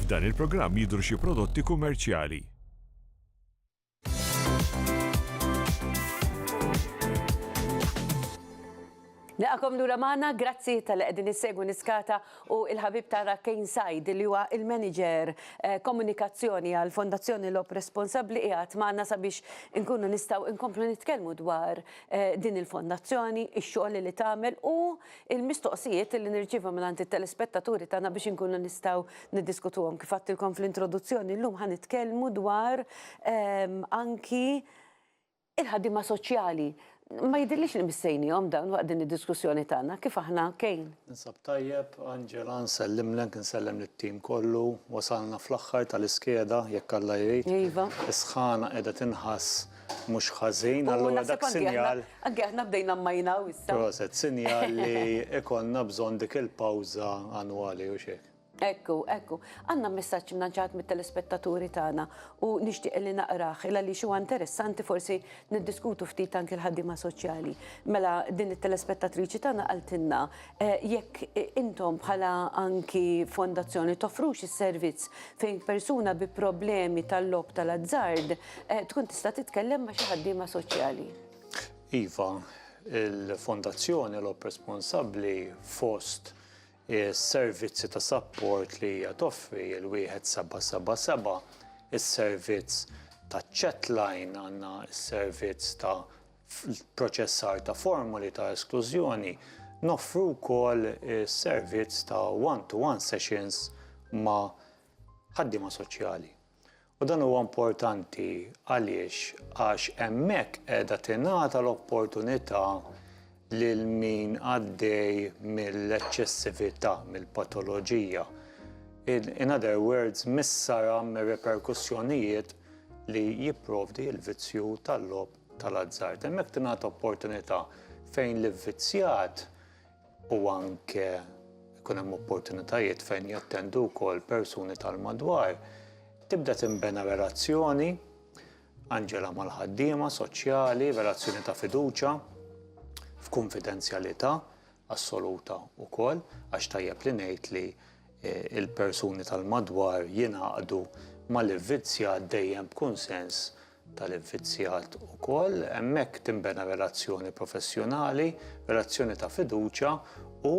F'dan il-programm jidhru xi prodotti kummerċjali. Nilqakom lura magħna, grazzi tal-li qegħdin issegwu Niskata u l-ħabib tagħna Kane Said li huwa l-Manager Komunikazzjoni għall-Fondazzjoni Logħob Responsabbli qiegħed magħna sabiex inkunu nistgħu nkomplu nitkellmu dwar din il-fondazzjoni, ix-xogħol li tagħmel u l-mistoqsijiet li nirċievu mingħand it-telespettaturi tagħna biex inkunu nistgħu niddiskutuhom. Kif għedtilkom fl-introduzzjoni, llum ħa nitkellmu dwar anki il-ħaddiema soċjali. Ma jidhirlix li missejnihom dawn waqt din id-diskussjoni tagħna. Kif aħna, Kane? Ninsab tajjeb, Angela, nsellimlek, insellem lit-tim kollu. Wasalna fl-aħħar tal-iskeda, jekk Alla jrid. Iva. Is-sħana qiegħda tinħass. Mhux ħażin, allura dak sinjal. Anke aħna bdejna mmajnaw issa. Proset, sinjal li ikollna bżonn dik il-pawża annwali u x'hekk. Ekku, ekku. Għandna messaġġ mnanċat mit-telespettaturi tagħna u nixtieq li naqrah il għaliex huwa interessanti forsi niddiskutu ftit anke l-ħaddiema soċjali. Mela din it-telespettatriċi tagħna qaltilna Jekk intom bħala anki fondazzjoni toffrux is-servizz fejn persuna bi problemi tal-logħob tal-azzard tkun tista' titkellem ma' xi ħaddiema soċjali? Iva, il-fondazzjoni logħob responsabbli fost is-servizzi ta' sapport li hija toffri l-wieħed seba' seba' seba', is-servizz taċ-chatline, għandna s-servizz ta' fl-ipproċessar ta' formoli ta' esklużjoni, noffru wkoll is-servizz ta' one-to-one sessions ma' ħaddiema soċjali. U dan huwa importanti għaliex għax hemmhekk qiegħda tingħata l-opportunità lil min għaddej mill-eċċessività, mill-patoloġija, in other words mis-sara mir-riperkussjonijiet li jipprovdi l-vizzju tal-logħob tal-azzard. Hemmhekk tingħata opportunità fejn l-ivvizzjat u anke jkun hemm opportunitajiet fejn jattendu wkoll persuni tal-madwar. Tibda tinbena relazzjoni, Anġela mal-ħaddiema soċjali, relazzjoni ta' fiduċa, f'kunfidenzjalità assoluta wkoll, għax tajjeb li ngħid li eh, il-persuni tal-madwar jingħaqdu mal-ivvizzjat dejjem b'kunsens tal-infizzjat ukoll, hemmhekk tinbena relazzjoni professjonali, relazzjoni ta' fiduċja u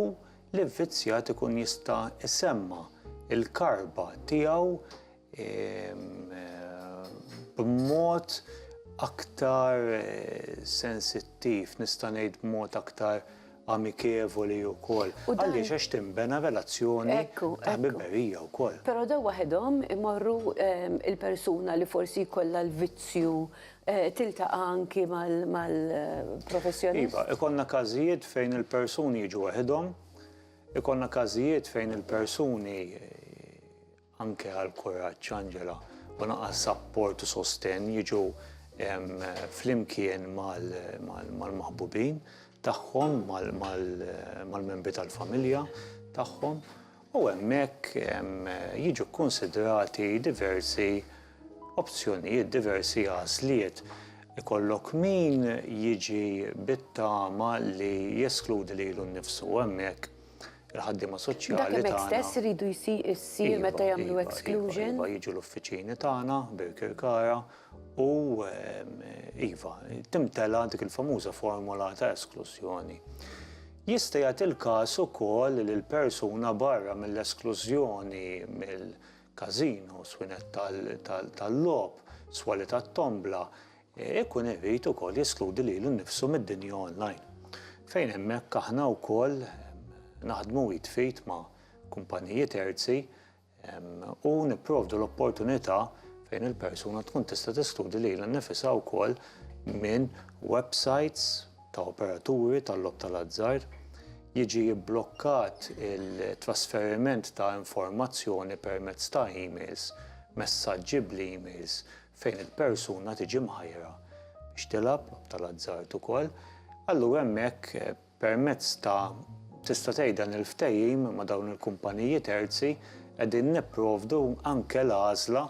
l-infizzjat ikun jista' jsemma' l-karba tiegħu b'mod aktar sensittiv, nista' ngħid b'mod aktar amikevoli wkoll. U dan- Għaliex għax tinbena relazzjoni Ekku, ta' ekku. ħbiberija wkoll. Però dawn waħedhom imorru ehm, il-persuna li forsi jkollha l-vizzju eh, tiltaqa' anki mal- Iva, mal-professjonist. ikollna każijiet fejn il-persuni jiġu waħedhom, ikollna każijiet fejn il-persuni anke għal kuraġġ Angela u naqas sapport u sostenn jiġu flimkien mal-maħbubin tagħhom mal-membri tal-familja tagħhom u hemmhekk jiġu kkunsidrati diversi opzjonijiet diversi għażliet ikollok min jiġi bit-tama li jeskludi lilu nnifsu u hemmhekk Il-ħaddiema soċjali tagħna. Dak hemmhekk stess iridu jsir meta jagħmlu exclusion? Iva, jiġu l-uffiċini tagħna, Birkirkara, u iva, timtela dik il-famuża formola ta' esklużjoni. Jista' jagħti l-każ ukoll li l-persuna barra mill-esklużjoni mill-każinos, swinett tal-logħob, swali tat-tombla, Ikun irid ukoll jeskludi lilu nnifsu mid-dinja online, fejn hemmhekk aħna wkoll naħdmu id f'id ma' kumpaniji terzi u nipprovdu l-opportunità fejn il-persuna tkun tista' teskludi lilha nnifisha wkoll minn websajts ta' operaturi tal-logħob tal-azzard, jiġi bblokkat it-trasferiment ta' informazzjoni permezz ta' emails, messaġġi bl-emails, fejn il-persuna tiġi mħajjra biex tilgħab, lob tal-azzard ukoll, allura hemmhekk permezz ta' tista' tgħid dan il-ftehim ma' dawn il-kumpaniji terzi qegħdin nipprovdu anke l-għażla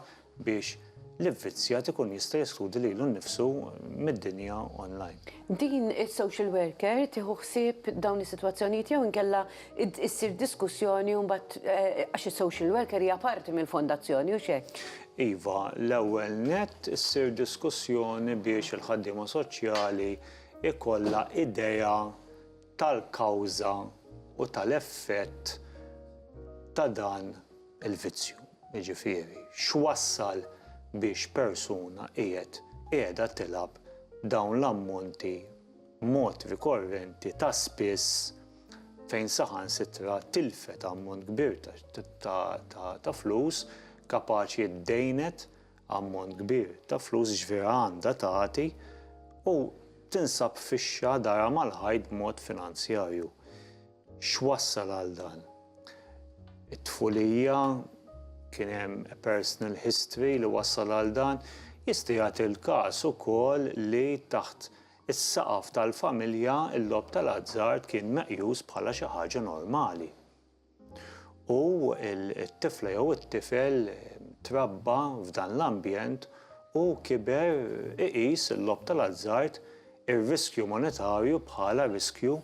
biex l-ivvizzjat ikun jista' jeskludi lilu nnifsu mid-dinja online. Din is-social worker tieħu ħsieb dawn is-sitwazzjonijiet jew inkella issir diskussjoni u mbagħad għax is-social worker hija parti mill-fondazzjoni, hux hekk? Iva, l-ewwel nett issir diskussjoni biex il-ħaddiema soċjali jkollha idea tal-kawża u tal-effett ta' dan il-vizzju, jiġifieri x'wassal biex persuna qiegħed, qiegħda tilgħab dawn l-ammonti b'mod rikorrenti ta' spiss fejn saħansitra tilfet ammont kbir ta' flus, kapaċi ddejnet ammont kbir ta' flus, jiġifieri għandha tagħti, u tinsab fixxa darha mal-ħajt b'mod finanzjarju. X'wassal għal dan? It-tfulija, kien hemm a personal history li wassal għal dan. Jista' jagħti l-każ ukoll li taħt is-saqaf tal-familja l-logħob tal-azzard kien meqjus bħala xi ħaġa normali u t-tifla jew it-tifel trabba f'dan l-ambjent u kiber iqis il-logħob tal-azzard, ir-riskju monetarju bħala riskju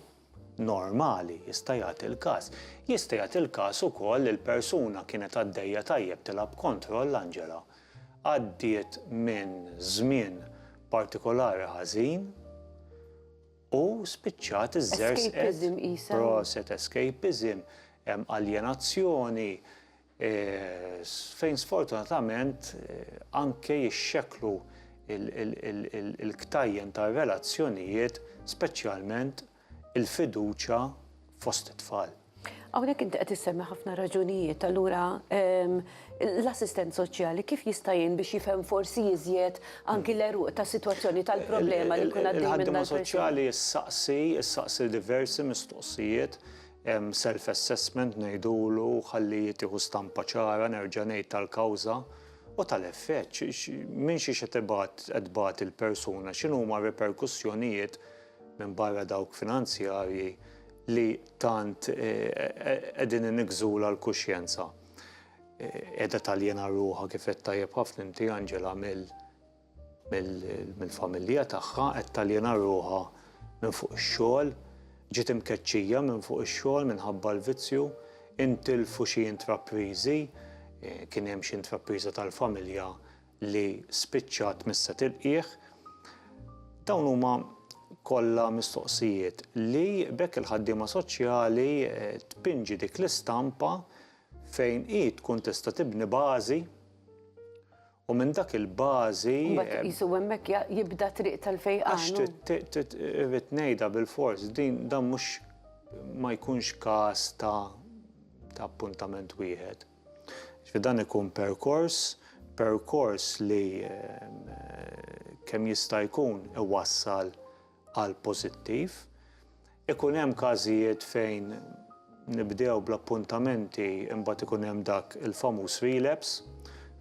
normali, jista' jagħti l-każ. Jista' jagħti l-każ ukoll li l-persuna kienet għaddejja tajjeb tilgħab b'kontroll anġela, għaddiet minn żmien partikolari ħażin u spiċċat iżżerżqet, proset, escapism, aljenazzjoni, fejn sfortunatament anke jixxekklu l-ktajjen tar-relazzjonijiet, speċjalment il-fiduċja fost it-tfal. Hawnhekk inti qed issemmi ħafna raġunijiet, allura l-assistent soċjali kif jista' jgħin biex jifhem forsi iżjed anki l-għeruq tas-sitwazzjoni tal-problema li jkun għaddej minnha l-persuna? Il-ħaddiema soċjali ssaqsi diversi mistoqsijiet Hemm self assessment ngħidulu ħalli tieħu stampa ċara nerġa' ngħid tal-kawża u tal-effett, minn xiex qed ibgħat qed tbati il-persuna, x'inhuma r-riperkussjonijiet minbarra dawk finanzjarji li tant qegħdin iniggżulha l-kuxjenza. Qiegħda taljena ruħha kif għedt tajjeb ħafna inti Angela mill mill-familja tagħha, qed taljena ruħha minn fuq ix-xogħol, ġiet imkeċċija minn fuq ix-xogħol minħabba l-vizzju, intilfu xi intrapriżi, kien hemm xi intrapriża tal-familja li spiċċat mhix se tilqih. Dawn huma kollha mistoqsijiet li b'hekk il-ħaddiema soċjali tpinġi dik l-istampa fejn hi tkun tista' tibni bażi U minn dak il-bażi. Mbagħad iqisu hemmhekk jibda t-triq tal-fejqan. Għax irrid ngħidha bilfors, din dan mhux ma jkunx każ ta' ta' appuntament wieħed. Ġifieri dan ikun perkors, perkors li kemm jista' jkun iwassal għal pożittiv. Ikun hemm każijiet fejn nibdew bl-appuntamenti imbagħad ikun hemm dak il-famuż relapse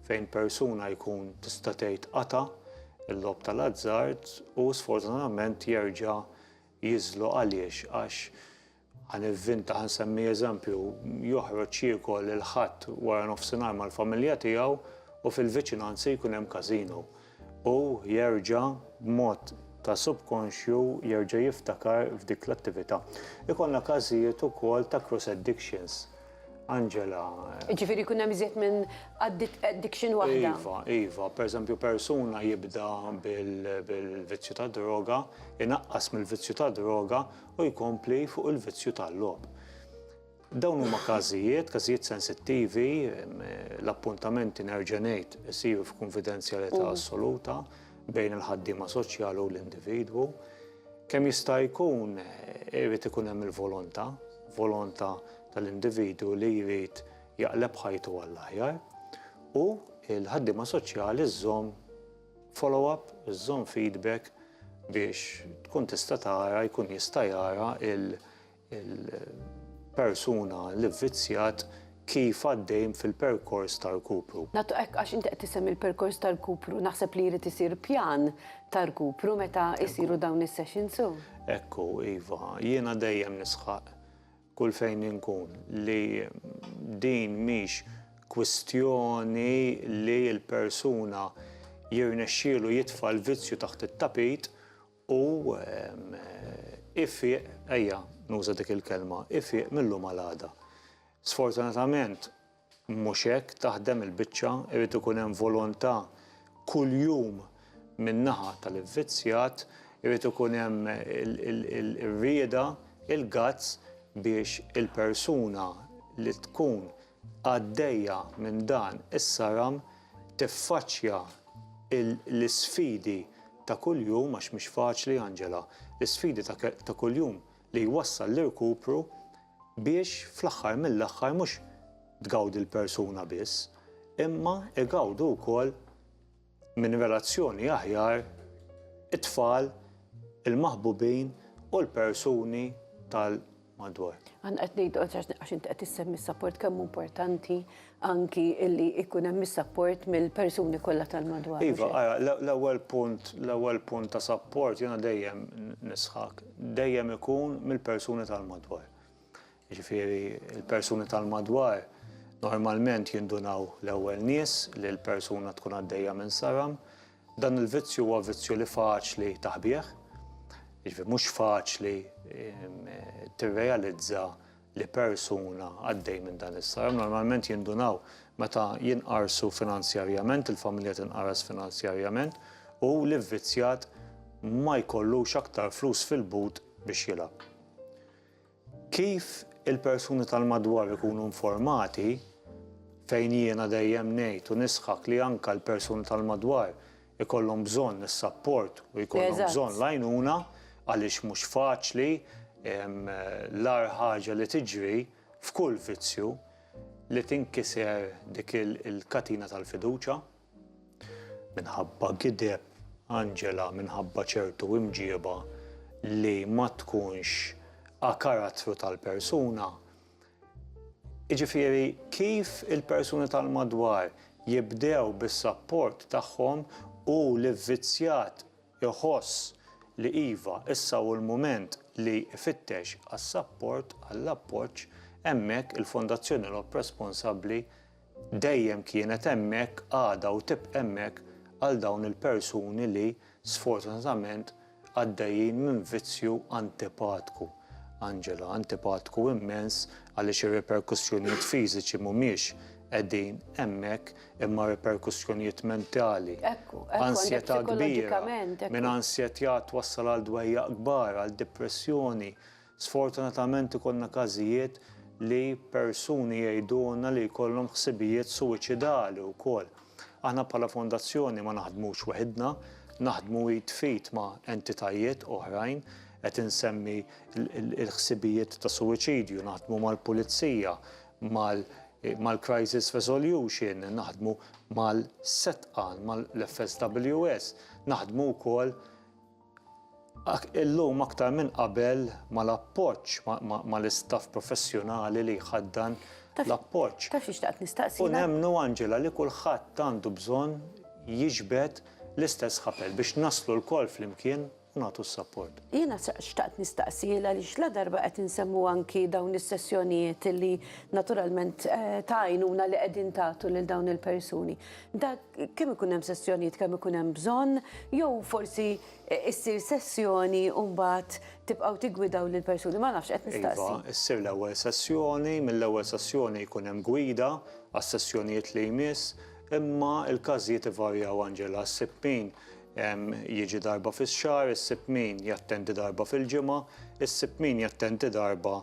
fejn persuna jkun tista' tgħid qata' l-logħob tal-azzard u sfortunatament jerġa' jiżlu għaliex għax Għan il-fin ta' nsemmi eżempju, joħroġ jiekol il-Ħadd wara nofsinhar mal-familja tiegħu u fil-viċinanzi jkun hemm każino. Hu jerġa', b'mod ta' subkonxju, jerġa' jiftakar f'dik l-attività. Ikollna każijiet ukoll ta' cross addictions. Angela. Jiġifieri jkun hemm iżjed minn addiction waħda? Iva, iva. Per eżempju, persuna jibda bil-vizzju tad-droga, inaqqas mill-vizzju tad-droga u jkompli fuq il-vizzju tal-logħob. Dawn huma każijiet, każijiet sensittivi, l-appuntamenti nerġa' ngħid isiru f'kunfidenzjalità mm. assoluta bejn il-ħaddiema soċjali u l-individwu. Kemm jista' jkun eh, irid ikun hemm il-volontà, volontà tal-individwu li jrid jaqleb ħajtu għall-aħjar u l-ħaddiema soċjali żżomm Follow-up, żomm feedback biex tkun tista' tara, jkun jista' jara l-persuna li vvizzjat kif għaddej fil-perkors ta' rkupru. Nagħtu hekk għax inti qed issemmi l-perkors ta' rkupru, naħseb li jrid isir pjan ta' rkupru meta jsiru dawn is-sessions, hu? Hekk hu, iva. Jiena dejjem nisħaq kull fejn inkun, li din mhix kwistjoni li l-persuna jirnexxielu jitfa' l-vizzju taħt it-tapit u ifieq, ejja nuża dik il-kelma, ifieq mil-lum għal għada. Sfortunatament, Mhux hekk taħdem il-biċċa, irid ikun hemm volontà kuljum min-naħa tal-ivvizzjat, irid ikun hemm ir-rieda, il-guts biex il-persuna li tkun għaddejja minn dan is-saram tiffaċċja l-isfidi ta' kuljum, għax mhix faċli Angela, l-isfidi ta' kuljum li jwassal l-irkupru biex fl-aħħar mill-aħħar mhux tgawdi l-persuna biss, imma igawdu wkoll minn relazzjoni aħjar it-tfal, il-maħbubin u l-persuni tal-madwar. Aħna qed ngħidu għax inti qed issemmi s-sapport kemm hu importanti anki illi jkun hemm is-sapport mill-persuni kollha tal-madwar. Iva, ara, l-ewwel punt, l-ewwel punt ta' sapport jiena dejjem nisħaq, dejjem ikun mill-persuni tal-madwar. Jiġifieri l-persuni tal-madwar normalment jindunaw l-ewwel nies li l-persuna tkun għaddejja minn saram. Dan il-vizzju huwa vizzju li faċli taħbih, jiġifieri mhux faċli tirrealizza li persuna għaddej minn dan is-saram. Normalment jindunaw meta jinqarsu finanzjarjament, il-familja tinqaras finanzjarjament u l-ivvizzjat ma jkollux aktar flus fil-but biex jilgħab. Kif il-persuni tal-madwar ikunu informati, fejn jiena dejjem ngħid u nisħaq li anke l-persuni tal-madwar ikollhom bżonn is-sapport u jkollhom bżonn l-għajnuna għaliex mhux faċli l-agħar ħaġa li tiġri f'kull vizzju li tinkiser dik il-katina tal-fiduċja minħabba gideb, għanġela, minħabba ċertu imġieba li ma tkunx a karattru tal-persuna. Jiġifieri, kif il-persuni tal-madwar jibdew bis-sapport tagħhom u l-ivvizzjat iħoss li iva, issa hu l-mument li jfittex għas-sapport, għall-appoġġ, hemmhekk il-Fondazzjoni Lhokk Responsabbli Dejjem kienet hemmhekk għadha u tibqa' hemmhekk għal dawn il-persuni li sfortunatament għaddejjin minn vizzju antipatku. Angela, Antipatku immens għaliex ir-riperkussjonijiet fiżiċi m'humiex qegħdin hemmhekk imma riperkussjonijiet mentali. Ansjetà kbira, minn ansjetà twassal għal dwejjaq kbar, għal dipressjoni. Sfortunatament ikollna każijiet li persuni jgħidulna li jkollhom ħsibijiet suwiċidali wkoll. Aħna bħala Fondazzjoni ma naħdmux weħidna, naħdmu id f'id ma' entitajiet oħrajn, qed insemmi l-ħsibijiet ta' suwiċidju, naħdmu mal-Pulizija, mal-Crisis Resolution, naħdmu mal-SETAN, mal-FSWS, naħdmu wkoll Illum aktar minn qabel mal-appoġġ, mal-istaff professjonali li jħaddan l-appoġġ. Taf xi xtaqt nistaqsi? U nemmnu Angela li kulħadd għandu bżonn jiġbed l-istess ħabel biex naslu lkoll flimkien u nagħtu s-sapport. Jiena xtaqt nistaqsi għaliex ladarba qed insemmu anki dawn is-sessjonijiet li naturalment ta' għajnuna li qegħdin tagħtu lil dawn il-persuni. Dak kemm ikun hemm sessjonijiet kemm ikun hemm bżonn, jew forsi e, issir sessjoni u mbagħad tibqgħu tigwidaw lil persuni ma nafx qed nistaqsi. Iva, issir l-ewwel sessjoni, mill-ewwel sessjoni jkun hemm gwida għas-sessjonijiet li jmiss, imma l-każijiet ivarjaw Angela, ssib min jiġi darba fix-xahar, issib min jattendi darba fil-ġimgħa, issib min jattendi darba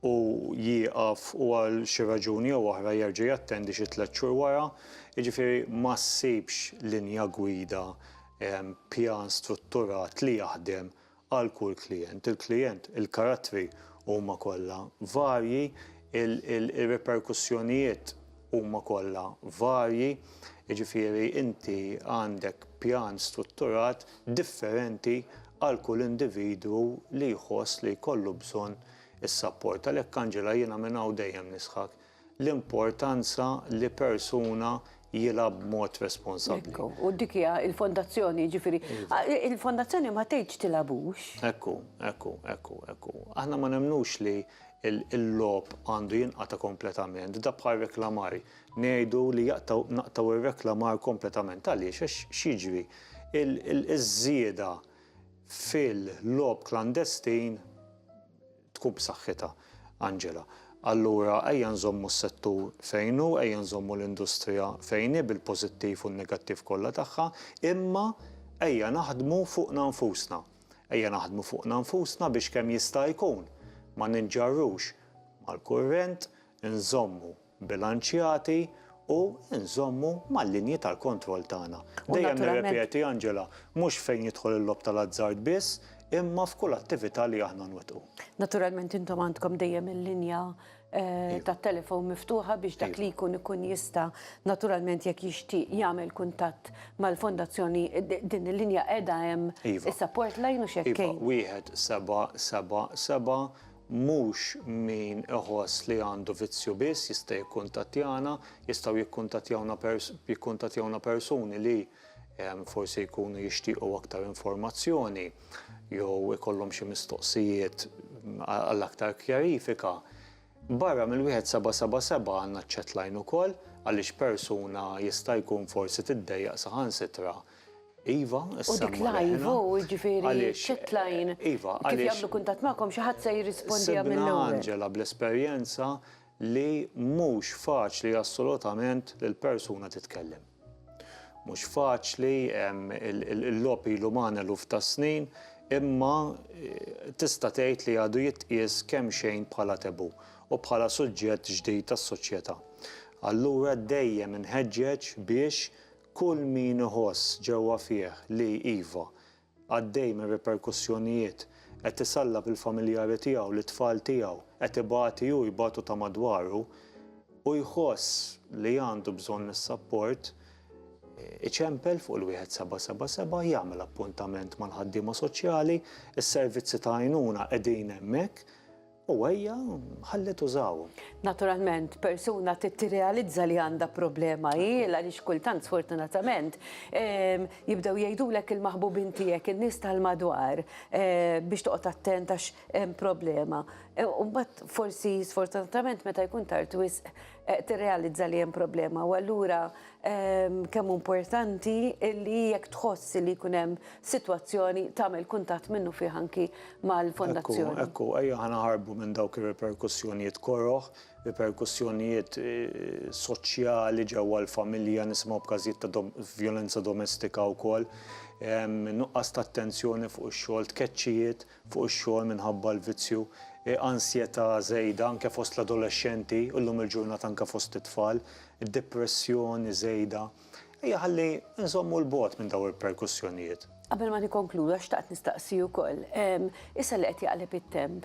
u jieqaf u għal xi raġuni jew oħra jerġa' jattendi xi tliet xhur wara, jiġifieri ma ssibx linja gwida, pjan strutturat li jaħdem għal kull klijent. Il-klijent, il-karattri huma kollha varji, ir-riperkussjonijiet huma kollha varji, jiġifieri inti għandek pjan strutturat differenti għal kull individwu li jħoss li jkollu bżonn Is-sapport. Għalhekk Angela jiena minn hawn dejjem nisħaq l-importanza li persuna jilgħab b'mod responsabbli. Ekku, u dik hija l-fondazzjoni, jiġifieri iva. il-fondazzjoni ma tgħidx tilgħabux. Ekku, ekku, ekku, ekku. Aħna ma nemmnux li l-logħob għandu jinqata' kompletament, da bħal reklamar. Ngħidu li jaqtgħu naqtgħu r-reklamar kompletament għaliex għax x'jiġri? Iż-żieda fil-logħob klandestin tkun b'saħħitha, Angela. Allura ejja nżommu s-settur fejn hu, ejja nżommu l-industrija fejn hi bil-pożittiv u n-negattiv kollha tagħha, imma ejja naħdmu fuqna nfusna. Ejja naħdmu fuqna nfusna biex kemm jista' jkun ma ninġarrux mal-kurrent, inżommu bilanċjati u nżommu mal-linji tal-kontroll tagħna. Dejjem nirrepeti, Angela, mhux fejn jidħol il-logħob tal-azzard biss, imma f'kull attività li aħna nwettqu. Naturalment intom għandkom dejjem il-linja tat-telefon miftuħa biex dak li jkun ikun jista' naturalment jekk jixtieq jagħmel kuntatt mal-Fondazzjoni din il-linja qiegħda hemm is-support line u x'hekk. Iva, wieħed seba' seba' seba' Mhux min iħoss li għandu vizzju biss jista' jikkuntattjana, jistgħu jikkuntattjawna jikkuntattjawna persuni li forsi jkunu jixtiequ aktar informazzjoni jew ikollhom xi mistoqsijiet għal aktar kjarifika. Barra mill-wieħed seba' seba' seba' għandna ċ-chat line ukoll għaliex persuna jista' jkun forsi tiddejjaq saħansitra Iva, issa. U dik live, u ġifieri ċetlajn. Iva, għaliex. Kif jagħmlu kuntatt magħkom xi ħadd se jirrispondiha minn hawn. Sibna Angela bl-esperjenza li mhux faċli assolutament li l-persuna titkellem. Mhux faċli, il-logħob ilu magħna eluf ta' snin, imma tista' tgħid li għadu jitqies kemm xejn bħala taboo u bħala suġġett ġdid tas-soċjetà. Allura dejjem inħeġġeġ biex Kull min iħoss ġewwa fih li, iva, għaddej minn riperkussjonijiet, qed isallab il-familjari tiegħu, lit-tfal tiegħu, qed ibati hu, jbatu ta' madwaru, u jħoss li għandu bżonn is-sapport, iċempel fuq il-wieħed seba' seba' seba', jagħmel appuntament mal-ħaddiema soċjali, is-servizzi ta' għajnuna qegħdin hemmhekk. U hija ħalliet użawhom. Naturalment, persuna trid tirrealizza li għandha problema hi, għaliex kultant sfortunatament jibdew jgħidulek il-maħbubin tiegħek, in-nies tal-madwar biex toqgħod attent għax hemm problema. U mbagħad forsi sfortunatament meta jkun tard wisq tirrealizza li hemm problema u allura kemm importanti li jekk tħoss li jkun hemm sitwazzjoni tagħmel kuntatt minnu fih anki mal-fondazzjoni. Ekku, ekku, ejja ħanaħarbu minn dawk ir-riperkussjonijiet koroh, riperkussjonijiet soċjali ġewwa l-familja, nisimgħu b'każijiet ta' vjolenza domestika wkoll, nuqqas ta' attenzjoni fuq ix-xogħol, tkeċċijiet. fuq ix-xogħol minħabba l-vizzju, ansjetà żejda anke fost l-adolexxenti u llum il-ġurnata anke fost it-tfal, depressjoni żejda. Ejja ħalli nżommu 'l bogħod minn dawn ir-perkussjonijiet. Qabel ma nikkonkluda xtaqt nistaqsi ukoll, issa li qed jaqleb it-temp,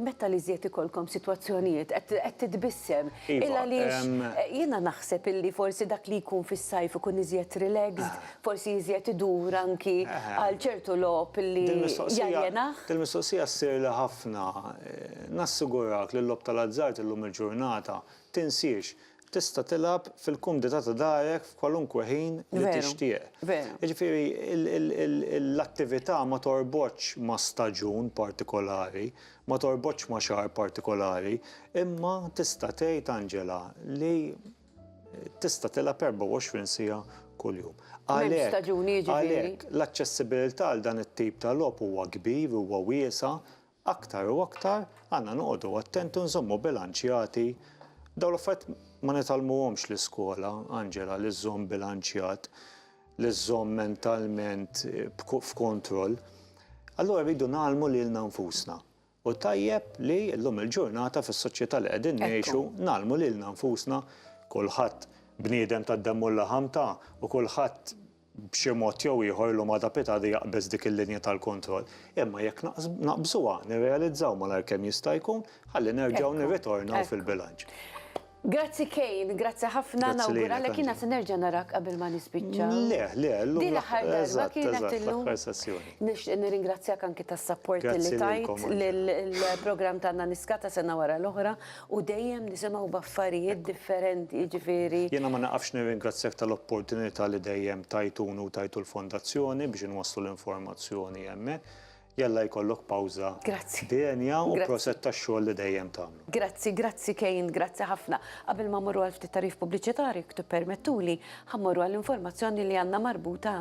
meta l-iżjed ikollkom sitwazzjonijiet qed qed titbissem? Iva, emm. Il-għaliex jiena naħseb illi forsi dak li jkun fis-sajf ikun iżjed relaxed forsi iżjed idur anki għal ċertu logħob li jaljenah? Dil-mistoqsija ssirli ħafna. Nassigurak li l-logħob tal-azzard illum il-ġurnata tinsiex. Tista' tilgħab fil-kumdità ta' darek f'kwalunkwe ħin li tixtieq. Jiġifieri l-attività ma torbotx ma' staġun partikolari, ma torbotx ma' xahar partikolari, imma tista' tgħid Angela li tista' tilgħab 24 siegħa kuljum. Għalhekk l-aċċessibilità għal dan it-tip ta' logħob huwa kbir, huwa wiesa', aktar u aktar għandna noqogħdu attenti u nżommu bilanċjati. Dawn l-affarijiet ma nitgħallmuhomx l-iskola, Angela, li żżomm bilanċjat, li żżomm mentalment f'kontroll. Allura rridu ngħallmu lilna nfusna. Hu tajjeb li llum il-ġurnata fis-soċjetà li qegħdin ngħixu ngħallmu lilna nfusna kulħadd bniedem tad-demm u l-laħam ta' u kulħadd b'xi mod jew ieħor llum għada pitgħada jaqbeż dik il-linja tal-kontroll. Imma jekk naqbżuha nirrealizzaw malajr kemm jista' jkun ħalli nerġgħu nirritornaw fil-bilanċ. Grazzi Kane, grazzi ħafna, Grazzi lilek, nawguralek Anġi. jiena se nerġa' narak qabel ma nispiċċa. Le, le, llum Din l-aħħar darba eżatt, kienet eżatt, illum. l-aħħar sessjoni. Nixtieq nirringrazzjak anki tas-sapport li Grazzi tajt lilkom, Anġi. lill-programm tagħna Niskata sena wara l-oħra u dejjem nisimgħu b'affarijiet differenti, jiġifieri Jiena ma nieqafx nirringrazzjak tal-opportunità li dejjem tajtuni u tajtu l-Fondazzjoni biex inwasslu l-informazzjoni hemmhekk. Jalla jkollok pawża denja u proset tax-xogħol li dejjem tagħmlu. Grazzi, grazzi Kane, grazzi ħafna. Qabel ma mmorru għal ftit tagħrif pubbliċitarju jekk tippermettuli, ħa mmorru għall-informazzjoni li għandna marbuta.